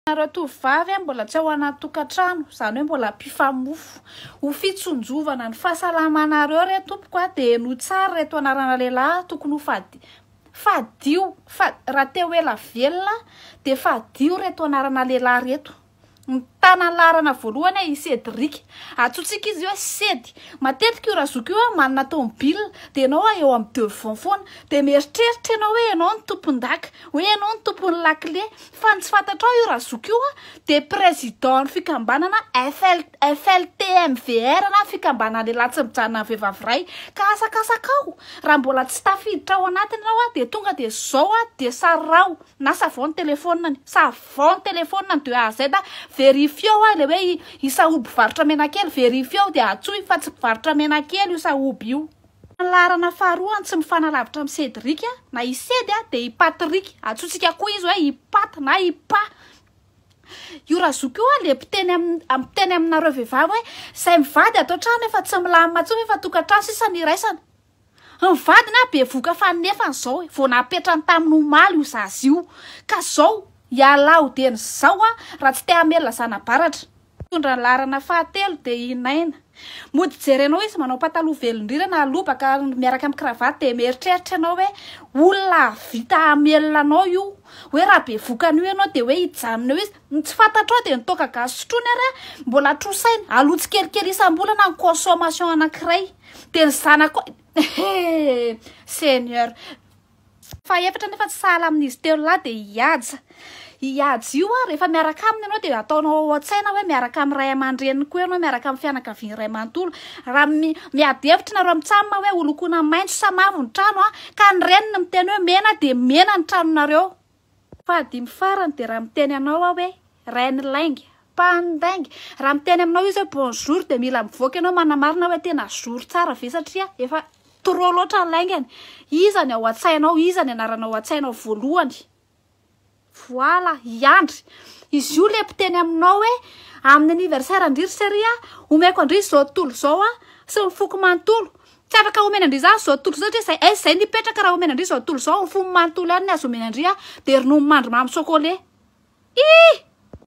Ianareo tovovavy mbola tsy ao anaty tokantrano, izany hoe mbola mpifamofo. Ho fitsinjovana ny fahasalamanareo re tompoko a, dia henoy tsara ireto anarana lehilahy tokony ho fady, fadio, fa raha te ho ela velona dia fadio ireto anarana lehilahy ireto. Mitana ny laharana voalohany aho, i Cédric. Antsointsika izy hoe Sedy. Matetika io razoko io a, manana tomobila, dia ianao a eo amin'ny devant foana, dia mieritreritra ianao hoe ianao no tompon-daka, hoe ianao no tompon'ny lakile, Fa ny tsy fantatrao io Razoky io a dia président ny fikambanana FL, FLT MVR na fikambanana lehilahy tsy mijanona amin'ny vehivavy iray. Ka asakasakao raha mbola tsy tafiditra ao anatiny ianao a dia tonga dia zao a dia saraho na savon ny téléphone-ny, savon ny téléphone-ny de A à Z a, verifiao a ilay hoe i Sahoby mpivarotra menakely, verifiao dia antsoy fa tsy mpivarotra menakely io Sahoby io. Ny laharana faharoa no tsy mifanalavitra amin'i Cédric na i Sedy dia i Patrick. Antsointsika koa izy hoe i Pat na i Pa. Io Razoky io dia mpiteny amin'ny mpiteny aminareo vehivavy hoe izay mivady ato an-trano efa tsy milamina intsony efa tokantrano sisa no iraisana. Ny vadiny ary bevoka fa nefany izao e, vao napetrany tamin'ny omaly io zaza io ka izao ialahy ho dieny izao raha tsy te hamelona zana-baratra. Mitondra ny laharana fahatelo dia i Naina. Mody hijery anao izy manao pataloha velondrirana ary lobaka miaraka amin'ny cravate dia mieritreritra ianao hoe olona hahavita hamelona anao io. Hoe raha bevoka an'io ianao dia hoe hijanona eo izy. Ny tsy fantatrao dia ny toaka gasy sotroiny ary mbola trosainy. Aloa tsikelikely isam-bolana ny consommation anankiray. Dia ny zanakao, eh! Seigneur! Fahefatra nefa tsy sahala amin'izy telo lahy dia i Haja. Io Haja io an, rehefa miaraka aminy ianao dia ataonao ao an-tsaina hoe miaraka amin'ny ray aman-dreniny koa ianao, miaraka amin'ny fianakaviany iray manontolo. Raha miady hevitra nareo amin'ny Tsam hoe holokoina maitso sa mavo ny trano an, ka ny reniny miteny hoe mena dia mena ny tranonareo. Fahadimy farany dia raha miteny anao aho hoe Rain'ny lainga, Pahan'ny lainga, raha miteny aminao izy hoe bonjour dia mila mivoaka ianao manamarina hoe tena jour tsara ve satria efa trop loatra ny laingany, iza ny ao an-tsainao, iza ny anarana ao an-tsainao voalohany, voila, i Andry, izy io ilay mpiteny aminao hoe amin'ny anniversaire an-dry ry Seria, omeko an-dry izao tontolo izao aho sy ny foko manontolo, Tsy afaka omena an-dry zany zao tontolo zao satria zay zay nipetraka raha omena an-dry zao tontolo zao fony manontolo ihany ny azo omena an-dry dia ronono mandry mamy chocolat ih!